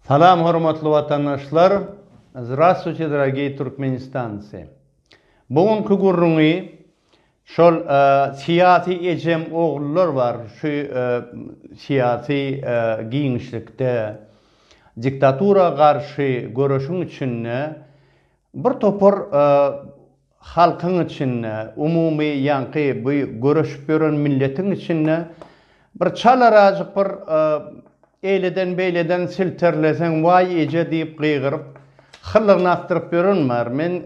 Salam hormatly watandaşlar! Zdravstvuyte dragiy turkmenistanci! Bu günki gürrüňi şol syýasy ejem oglular bar şu syýasy giňişlikde diktatura garşy göreşiň içinde bir topar Halkyň içinde, umumy ýaňky bu göreşip ýören milletiň içinde bir çalarajyk bir eýleden-beýleden silterleseň, Waý eje diýip gygyryp, hyllygyny akdyryp ýören bar. Men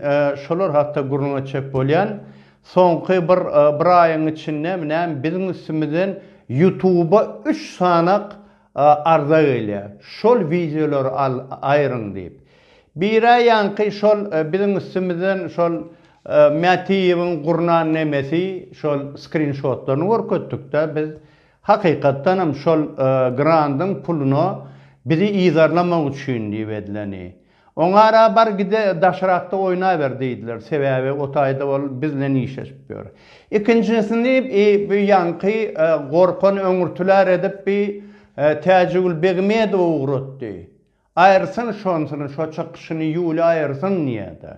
şolar hakda gürrüň etjek bolýan. Soňky bir bir aýyň içindemi näme biziň üstümizden ýutuba üç sanak Arza gelýär şol wideolary al aýryň diýip. Bire ýaňky şol biziň üstümizden şol Mätiýewiň gurnan nemesi şol skrinşotlaryny görkezdik-de biz hakykatdanam şol grandyň puluna bizi yzarlamak üçin diýip edileni. Oňara bar gide daşrakda oýnaber diýdiler, sebäbi o taýda ol bizlen işleşip ýör. Ikinjisini bi bu ýaňky gorkan öňürtiler edip bi Täjigül Begmedowa ugratdy. Aýyrsyn şonsyny, şo çykyşyny Ýuly aýyrsyn diýýä-de.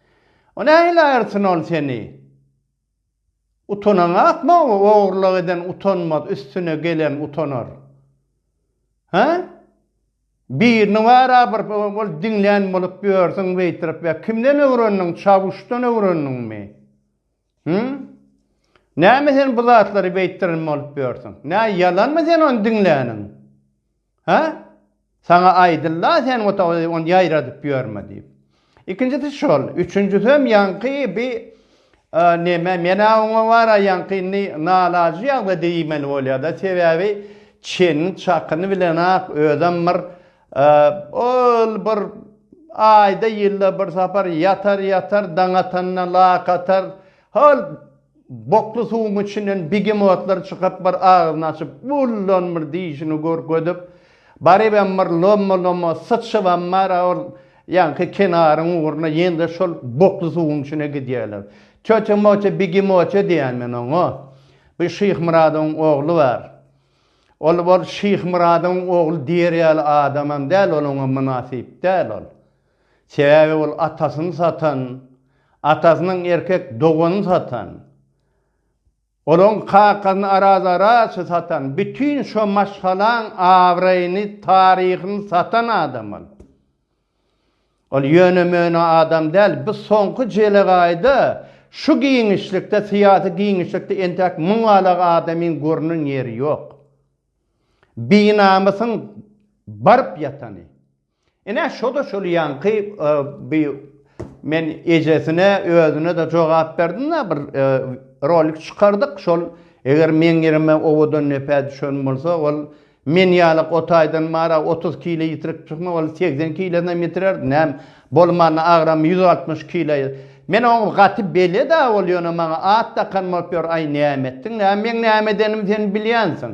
O nähili aýyrsyn ol seni? Utanaňa akma o ogurlyk eden utanmaz üstüne gelen utanar. Hä? Birini wara bir bol diňlän bolup ýörsüň beýtirip ýa kimden öwrendiň çawuşdan öwrendiňmi? Hü? Näme sen bu zatlary beýtdiren bolup ýörsüň? Nä ýalanmy sen ony diňläniň? Hä? Saňa aýdyldy-a sen otagda ony ýaýradyp ýörme diýip. Ikinjisi şol. Üçünjisem ýaňky bi neme, men-ä oňa bar-a ýaňky indi nalajy ýagdaýda diýmeli bolýa-da, sebäbi çeniniň çakyny bilen-ak özem bir ol bir aýda-ýylda bir sapar ýatar-ýatar, daň atanda lak atar, hol Bokly suwuň içinden begemotlar çykyp, bir agyzyny açyp, Bullan bir dişini görkezip, barybem bir lomma-lomma syçybam bar-a, ol ýaňky kenaryň ugruna, ýene-de şol bokly suwuň içine gidýärler. Töte-möte begemoty diýýän men oňa. Bir Şyhmyradowyň ogly bar. Ol, ol Şyhmyradowyň ogly diýer ýaly adamam däl, ol oňa mynasyp däl ol. Sebäbi ol atasyny satan, atasynyň erkek doganyny satan, olaň kakasyny arazaraçy satan, bütin şo maşgalaň abraýyny, taryhyny satan adam ol. Ol ýöne-möne adam däl, bu soňky jelegaýda şu giňişlikde, syýasy giňişlikde entäk muň galak adamyň görnen ýeri ýok. Binamysyň baryp ýatany. Ine, şo-da şol ýaňky bi men ejesine, özüne-de jogap berdim-de, bir rolik çykardyk, şol eger meň ýerime owadan nepä düşen bolsa, ol men ýaly o taýdan bar-a, otuz kile ýitirip çykma, ol segsen kilenem ýitirerdi, näm bolmanda agramy ýüz altmyş kile. Men oňa gaty bele-dä, ol ýöne maňa at dakan bolup ýör, aý, näme etdiň, näme meň näme edenimi sen bilýänsiň.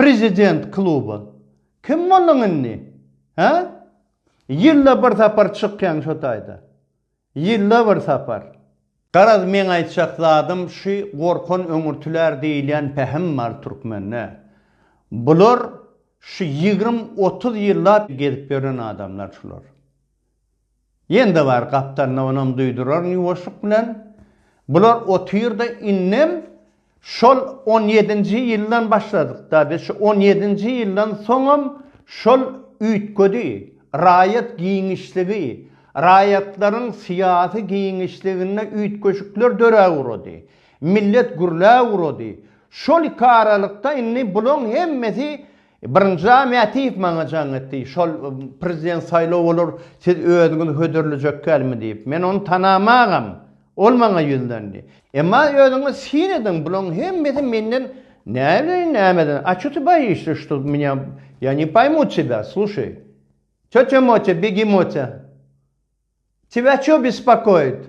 Prezident kluba kim bolduň indi? Hä? Ýylda bir sapar çykýaň şo taýda. Ýylda bir sapar. Garaz meň aýtjak zadym şy gorkan öňürtiler diýilýän pähim bar türkmende. Bular şy ýigrimi otuz ýyllap gezip ýören adamlar şular. Ýen-de bar gapdalynda onam duýduraryn ýuwaşlyk bilen. Bular otyrda indem şol on ýedinji ýyldan başladyk dady şu on ýedinji ýyldan soňam şol üýtgedi raýat giňişligi raýatlaryň syýasy giňişliginde üýtgeşikler döräwurady millet gürläwurady şol iki aralykda indi bulaň hemmesi Birinji Mätiýew maňa jaň etdi. Şol prezident saýlaw bolar, siz özüňiz hödürlejekkämi diýip. Men ony tanamagam. Ol maňa ýüzlendi. Emma özüňiz syn ediň, bulaň hemmesi menden näbileýin nämeden, a ço ty boýişde, şto mňa, ýa ne poýmu tebýa, sluşaý. Týotýa Motýa, begi Motýa, tebýa ço bespokoýit?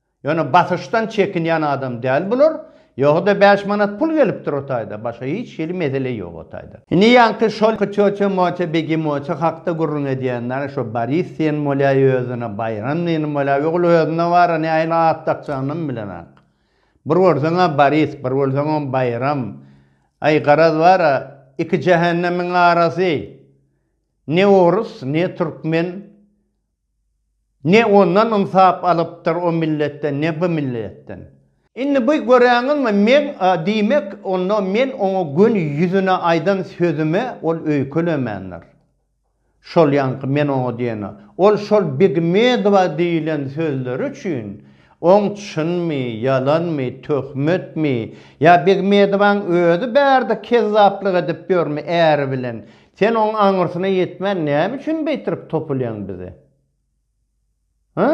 Ýöne basyşdan çekinýän adam däl bular. Ýoga-da bäş manat pul gelipdir o taýda, başga hiç hili mesele ýok o taýda. Indi ýaňky şol Köçe-moçe, begi-moçe hakda gürrüň edýänler, şo Boris diýen bolýa özüne, Baýram diýen bolýa, ogul özüne bara nähili at dakjagynam bilenok. Bir görseň-ä Boris, bir görseňem Baýram. Aý, garaz bara, iki jähennemiň arasy. Ne orus, ne türkmen. Ne ondan ynsap alypdyr o milletden, ne bu milletden. Indi bu göräňizmi, meň, diýmek, onda men oňa göni ýüzüne aýdan sözüme ol öýkelemändir. Şol ýaňky men oňa diýeni, ol şol Begmedowa diýlen sözleri üçin, oň çynmy, ýalanmy, töhmetmi, ýa Begmedowaň özi bärde kezzaplyk edip ýörmi äri bilen, Sen oň aňyrsyna ýetmän näme üçin beýtirip topulýaň bize? Hä?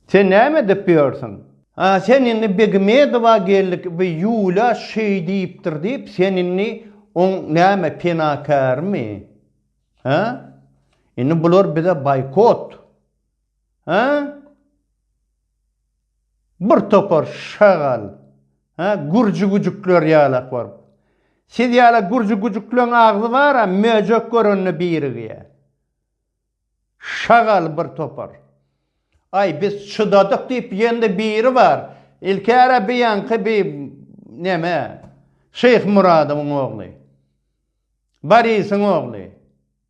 Sen näme edip ýörsiň? A sen indi Begmedowa geldik bi Ýulýa şeý diýipdir diýip sen indi oň näme penakärmi? Hä? Indi bular bize baýkot. Hä? Bir topar şagal, hä, gürji güjükler ýalak baryp. Siz ýala gürji güjükleň agzy bar-a, möjek görende birigýä. Şagal bir topar. Aý, biz çydadyk diýip ýen-de biri bar. Ilkäre bi ýaňky bi, neme, Şyhmyradowyň ogly. Barisyň ogly.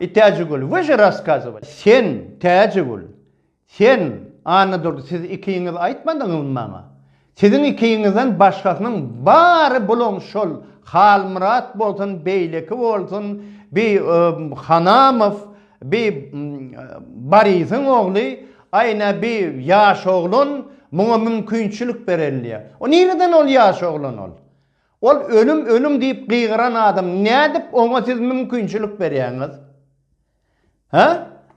I Täjigül, Вы же raskazovali. Sen, Täjigül, sen, Annadurdy, siz ikiňiz aýtmadyňyzmy maňa? Siziň ikiňizden başgasynyň bary bulaň şol Halmyrat bolsun, beýleki bolsun, bi Hanamow, bi Barisiň ogly, aýna bi ýaş oglan muňa mümkinçilik berenliýa. O nireden ol ýaş oglan ol? Ol ölüm, ölüm diýip gygyran adam nädip oňa siz mümkinçilik berýäňiz? Hä?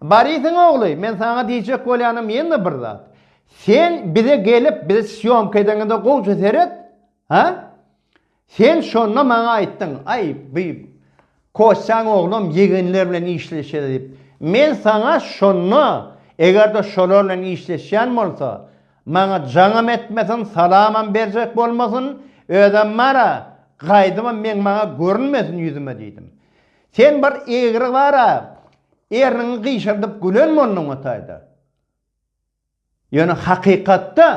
Borisyň ogly, men saňa diýjek bolýanym ýene-de bir zat. Sen bize gelip, bize sýomka edeňde gowja seret. Hä? Sen şonda maňa aýtdyň, aý, bu Kosýan oglam ýegenler bilen işleşeli diýip. Men saňa şonda, eger-de şolar bilen işleşýän bolsa, maňa jaňam etmesin, salamam berjek bolmasyn, özem bar-a, gaýdybam meň maňa görünmesin ýüzüme diýdim. Sen bir egri bar-a, erniňi gyşardyp gülen bolduň o taýda. Ýöne hakykatda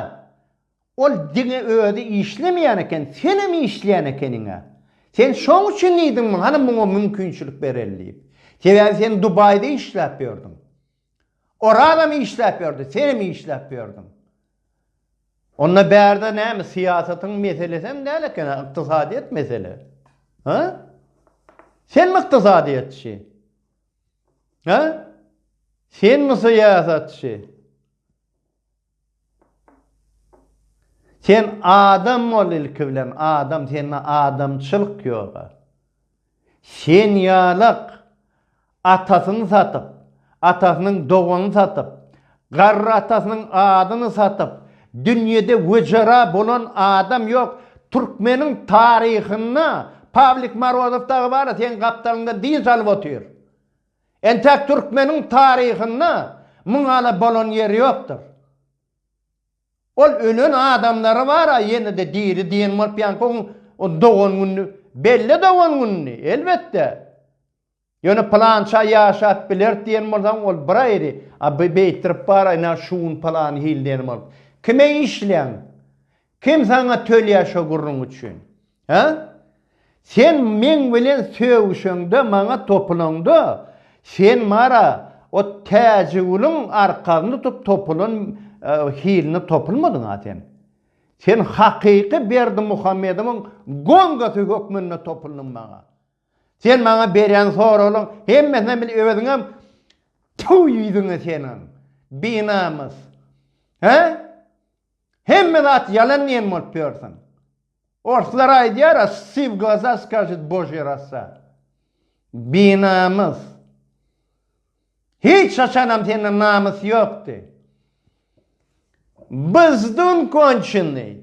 ol diňe özi işlemeýän eken, senem işleýän ekeniň-ä. Sen şoň üçin diýdiňmi, hany muňa mümkinçilik bereli diýip. Sebäbi sen Dubaýda işläp ýördüň. Orazam işläp ýördi, senem işläp ýördiň. Onda bärde näme, syýasatyň meselesem däl eken-ä, ykdysadyýet mesele. Hä? Senmi ykdysadyýetçi? Ha? Sen mi syýasatçy? Sen adam bol ilki bilen, adam, sende adamçylyk ýok. Sen ýalak atasyny satyp, atasynyň doganyny satyp, Garry atasynyň adyny satyp, dünýede wejera bolan adam ýok. Türkmeniň taryhynda Pawlik Morozow dagy bar-a, seň gapdalyňda dynç alyp otyr. Entäk türkmeniň taryhynda muňala bolan ýeri ýokdur. Ol ölen adamlary bar-a, ýene-de diri diýen bolup ýaňky oň dogan gününi, belle dogan gününi, elbetde. Ýöne pylança ýaşap bileris diýen bolsaň, ol bir aýry, a bu beýtdirip bar, ynha şu gün pylan hil diýen bolup. Kime işleýäň? Kim saňa tölýär şo gürrüň üçin? Hä? Sen meň bilen sögüşeňde, maňa topulaňda, sen mara o Täjigüliň arkasyny tutup topulan hilini topulmadyň-a sen. Sen hakyky Berdimuhamedowyň gongasy hökmünde topuldyň maňa. Sen maňa berýän soraglaň hemmesine bil öziňem tüw ýüziňe seniňem binamys. He? Hemme zat ýalan diýen bolup ýörsiň. Orslar aýdýar, a si w glaza skažit božýe rasa. Binamys. Hiç haçanam sende namys ýokdy. Byzdun konçenny.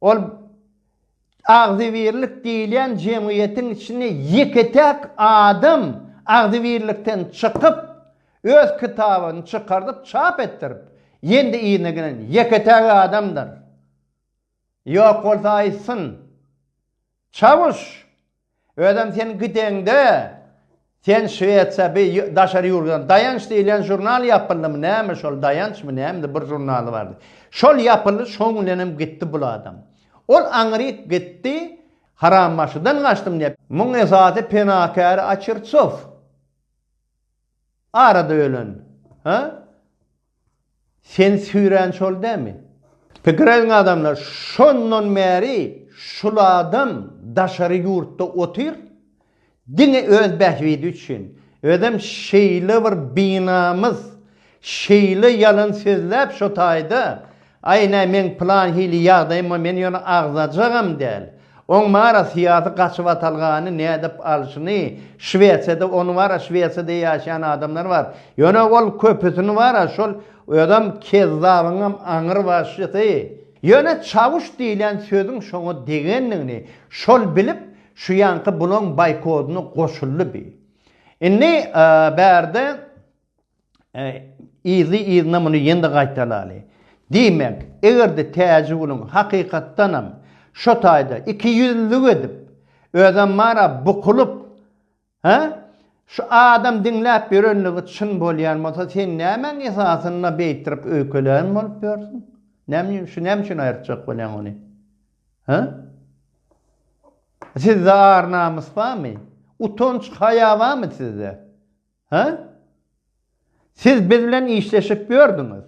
Ol agzybirlik diýilýän jemgyýetiň içinde ýeke-täk adam agzybirlikden çykyp, öz kitabyny çykardyp, çap etdirip, ýendi yzyna gelen ýeke-täk adamdyr. Ýok bolsa aýtsyn. Çawuş! Özem sen gideňde, sen Şwesiýa bi daşary ýurtdan Daýanç diýlen žurnal ýapyldymy näme şol Daýançmy nämedi bir žurnaly bardy. Şol ýapyldy şoň bilenem gitdi bul adam. Ol aňryk gitdi harambaşydan gaçdym diýýä. Muň esasy penakäri Açirtsow. Arada ölen. Hä? Sen süýrän şol dämi? Pikir ediň adamlar, şondan bäri şul adam daşary ýurtda otyr, diňe öz bähbidi üçin, özem şeýle bir binamys, şeýle ýalan sözläp şo taýda Aý, nä, meň plan hili ýagdaýyma men ýöne agzajagam däl. Oň mara syýasy gaçybatalgany nädip alşyny, Şwesiýada ony bara Şwesiýada ýaşaýan adamlar bar. Ýöne ol köpüsini bara şol özem kezzabyňam aňry başysy. Ýöne Çawuş diýlen sözüň şoňa degendigini şol bilip şu ýaňky bulaň baýkodyna goşuldy bi. Indi bärde. Yzly-yzyna muny ýene-de gaýtalaly. Diýmek, eger-de Täjiguluň hakykatdanam şo taýda ikiýüzlülik edip, özem bar-a bukulyp, hä, şu adam diňläp ýörenligi çyn bolýan bolsa, sen nämäň esasynda beýtirip öýkelän bolup ýörsüň? Nämüçin, şu näme üçin aýyrtjak bolýaň ony? Hä? Sizde ar-namys barmy? Utanç-haýa barmy sizde? Hä? Siz biz bilen işleşip ýördüňiz.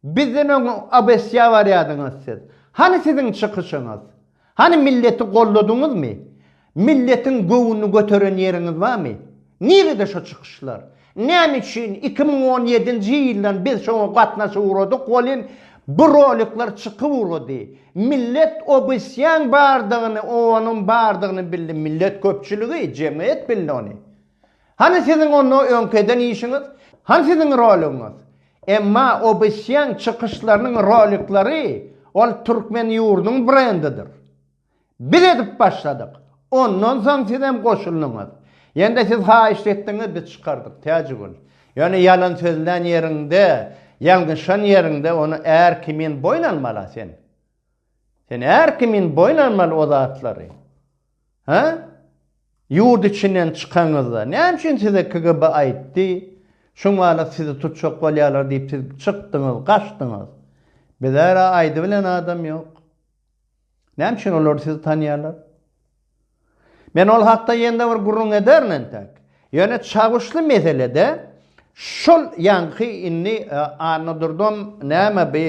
Bizden öň Obesýa barýadyňyz siz. Hany siziň çykyşyňyz? Hany milleti golladyňyzmy? Milletiň göwnüni göteren ýeriňiz barmy? Nirede şo çykyşlar? Näme üçin iki müň on ýedinji ýyldan biz şoňa gatnaşyp ugradyk welin, bu rolikler çykyp ugrady. Millet Obesýaň bardygyny, owanyň bardygyny bildi. Millet köpçüligi, jemgyýet bildi ony. Hany siziň onda öňki eden işiňiz? Hany siziň roligiňiz? Emma Obsýan çykyşlarynyň rolikleri ol türkmen ýurdunyň brendidir. Biz edip başladyk. Ondan soň sizem goşuldyňyz. Ýene-de siz haýyşt etdiňiz biz çykardyk Täjigül. Ýöne ýalan sözlän ýeriňde, ýalňyşan ýeriňde ony är kimin boýun almala sen. Sen är kimin boýun almaly o zatlary. Hä? Ýurt içinden çykaňyzda, näme üçin size KGB aýtdy, şu mahalat sizi tutjak bolýarlar diýip siz çykdyňyz, gaçdyňyz? Bizä-ra aýdybilen adam ýok. Näme üçin olar sizi tanýarlar? Men ol hakda ýene-de bir gürrüň ederin entek. Ýöne Çawuşly meselede şol ýaňky indi e, Annadurdam näme bi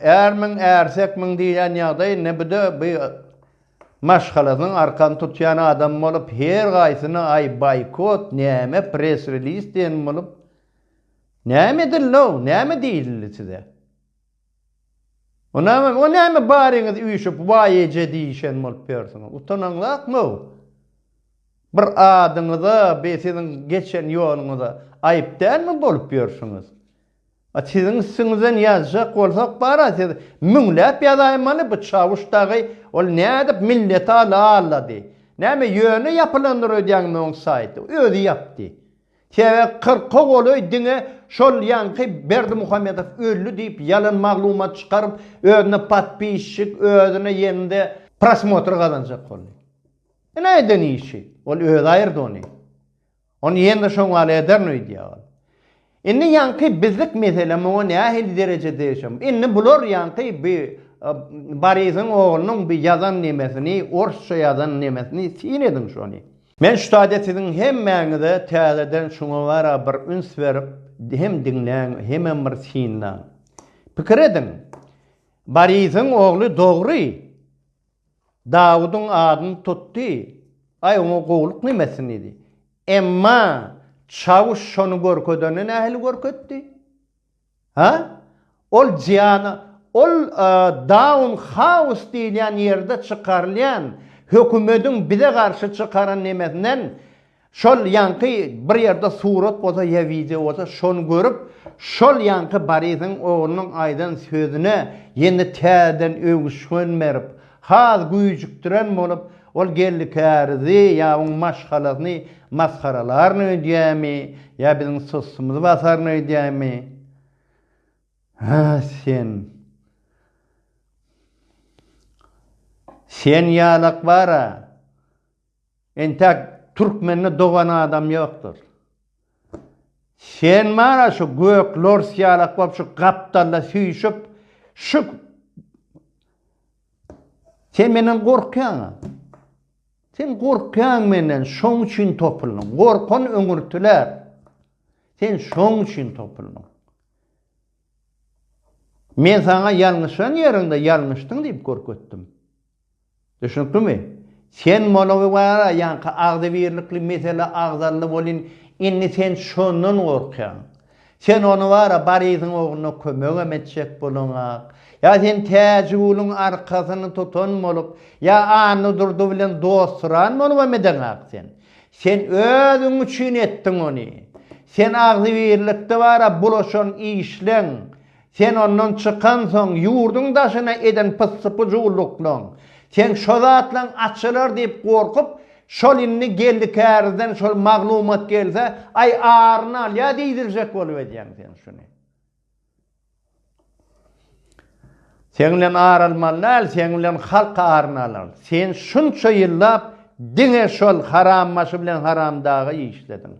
ärmiň, ärsekmiň diýýän ýagdaý, ne bu-da bi Maşgalasynyň arkany tutýan adamy bolup, her haýsyna aý boýkot, näme press-reliz diýen bolup, näme edildi-ow, näme diýildi size? O näme baryňyz üýşüp, waý eje diýişen bolup ýörsiňiz? Utanaňzakmy-ow? Bir adyňyza, bir siziň geçen ýoluňyza aýyp dälmi bolup ýörsiňiz? A siziň üstüňizden ýazjak bolsak bara siz müňläp ýazaýmaly bu çawuş dagy ol nädip milleti ala allady näme ýöne ýapylandyr öýdýäňmi oň saýty özi ýapdy sebäp kyrka golaý diňe şol ýaňky berdimuhamedow öldi diýip ýalan maglumat çykaryp özüne podpisçik özüne ýende prosmotr gazanjak boldy ine eden işi ol özi aýyrdy ony. Ony ýene-de şoň ýaly ederin öýdýär ol. Indi ýaňky bizlik mesele muňa nähili dereje degişem. Indi bular ýaňky bi Borisyň oglunyň bi ýazan nemesini, orsça ýazan nemesini syn ediň şony. Men şu taýda siziň hemmäňize täzeden şuňa gara bir üns berip, hem diňläň, hemem bir synlaň. Pikir ediň. Borisyň ogly dogry Dawudyň adyny tutdy, Aý, oňa gowulyk näme etsin diýdi. Emma çawuş şony görkezende nähili görkezdi? Ha? Ol Jiana, ol Daun Haus diýilýän ýerde çykarylýan hökümediň bize garşy çykaran nemesinden Şol ýaňky bir ýerde surat bolsa ýa wideo bolsa şony görüp şol ýaňky Barisiň oglunyň aýdan sözüne ýene täzeden öwüşgin berip has güýjükdiren bolup ol geldi kärizi ýa oň maşgalasyny masgaralaryn öýdýämi ýa biziň sustymyzy basaryn öýdýämi Hä sen Sen ýalak bara Entek türkmende dogan adam ýokdur. Sen bana şu gök lors ýalak bolup şu gapdalla süýşüp şu Sen menden gorkýaňa. Sen gorkýaň menden, şoň üçin topuldyň. Gorkan öňürtiler. Sen şoň üçin topuldyň. Men sana ýalňyşan ýeriňde ýalňyşdyň diýip görkezdim. Düşnüklimi? Sen molowy bar-a, ýaňky agzybirlikli mesele agzaldy welin, indi sen şondan gorkýaň. Sen ony bar-a, Barysyň ogluna kömegem etjek boluňak. Ýa sen Täjigulyň arkasyny tutan bolup, ýa Annadurdy bilen dostsuran bolubam edeňak sen. Sen özüň üçin etdiň ony. Sen agzybirlikde bar-a, bulaşan işleň. Sen ondan çykansoň, ýurduň daşyna eden pyssy-pyjuwlyklaň, seň şo zatlaň açylar diýip gorkup, şol indi geldi kärizden şol maglumat gelse, aý, aryny alýa diýdiljek bolup edýäň sen şuny. Seň bilen ar almaly däl, seň bilen halk aryny alar. Sen şunça ýyllap diňe şol harambaşy bilen haramdaga işlediň.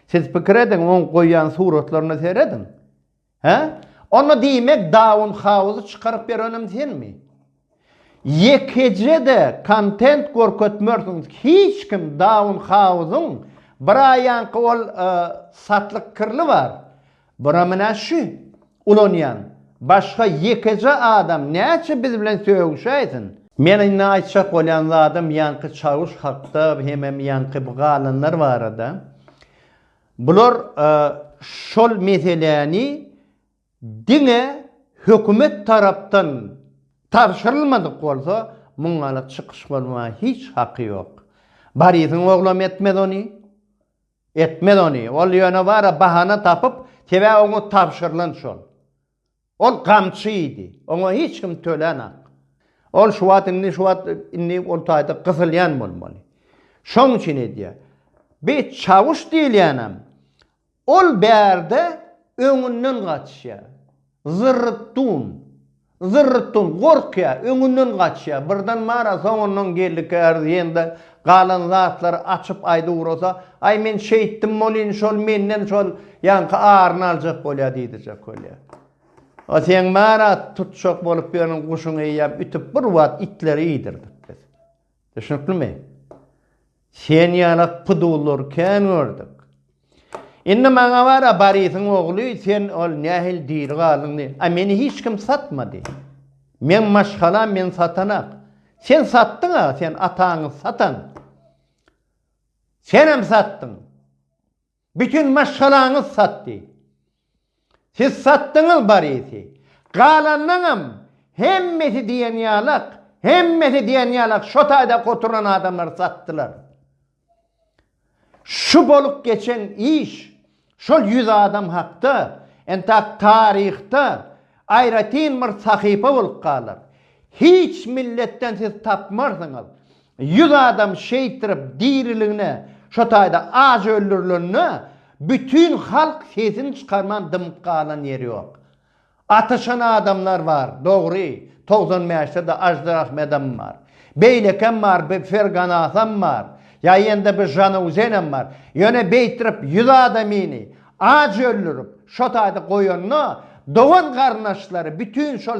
Siz pikir ediň, oň goýýan suratlaryna serediň. Hä? Onda diýmek Daun Hauzy çykaryp berenem senmi? Ýekeje-de kontent görkezmersiňiz hiç kim Daun Hauzyň bir aýaňky ol satlyk kirli bar. Bura menä şü ulanýan. Başga ýekeje adam näçe biz bilen sögüşäýsin. Men indi aýtjak bolýan zadym ýaňky Çawuş hakda hemem ýaňky bu galanlar barada. Bular şol meseläni diňe hökümet tarapdan tabşyrylmadyk bolsa muňala çykyş bolmaga hiç haky ýok. Barisiň oglam etmez ony. Etmez ony. Ol ýöne bara bahana tapyp, sebäbi oňa tabşyrylan şol. Ol gamçy idi. Oňa hiç kim tölänak. Ol şu wagt indi şu wagt indi ol taýda gysylýan bolmaly. Şoň üçin edýär. Bi Çawuş diýilýänem ol bärde öňünden gaçýar. Zyrrytdun. Zyrrytdun gorkýar, öňünden gaçýar. Birden mara soňundan geldikär diýende Galan zatlary açyp aýdywurasa, Aý men şeýtdim bolýyn, şol menden şol ýaňky aryny aljak bolýa diýdijek bolýa. A seň bana tutjak bolup ýören guşuňy eýýäm ütüp bir wagt itleri iýdirdik biz. Düşnüklimi? Sen ýalak pudulary kän gördük. Indi maňa bar-a, Barisyň ogly, sen ol nähili diri galdyň diý. A meni hiç kim satmady. Meň maşgalam meni satanak. Sen satdyň-a, sen ataňy satan. Senem satdyň. Bütin maşgalaňyz satdy. Siz satdyňyz Barisi. Galanyňam hemmesi diýen ýalak, hemmesi diýen ýalak şo taýda oturan adamlary satdylar. Şu bolup geçen iş, şol ýüz adam hakda entak taryhda aýratyn bir sahypa bolup galar. Hiç milletden siz tapmarsyňyz. Ýüz adam şeýtirip diriligine, şo taýda aç öldürilende bütin halk sesini çykarman dymyp galan ýeri ýok. Atyşan adamlar bar, dogry, togsan bäşde-de Ažder Ahmedem bar. Beýlekem bar, bi Ferganasam bar, ýa-ýende bi Žanauzenem bar. Ýöne beýtirip ýüz adamyny aç öldürip, şo taýda goýanda dogan-garyndaşlary bütin şol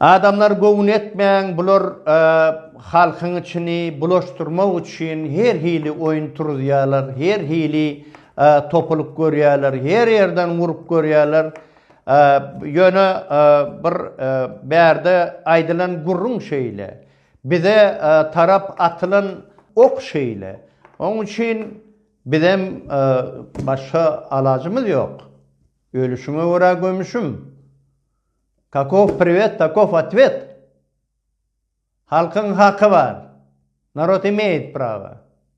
Adamlar göwün etmäň bular halkyň içini bulaşdyrmak üçin her hili oýun turuzýalar her hili topulyk görýäler her ýerden urup görýäler ýöne bir bärde aýdylan gürrüň şeýle bize tarap atylan ok şeýle oň üçin Bizem başga alajymyz ýok. Ölüşiňe görä gömüşim. Kakow priwet, takow otwet. Halkyň haky bar. Narod imeýit prawa.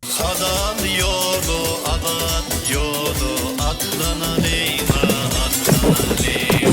Hazal ýoly azat ýoly atlanalyň a atlanalyň.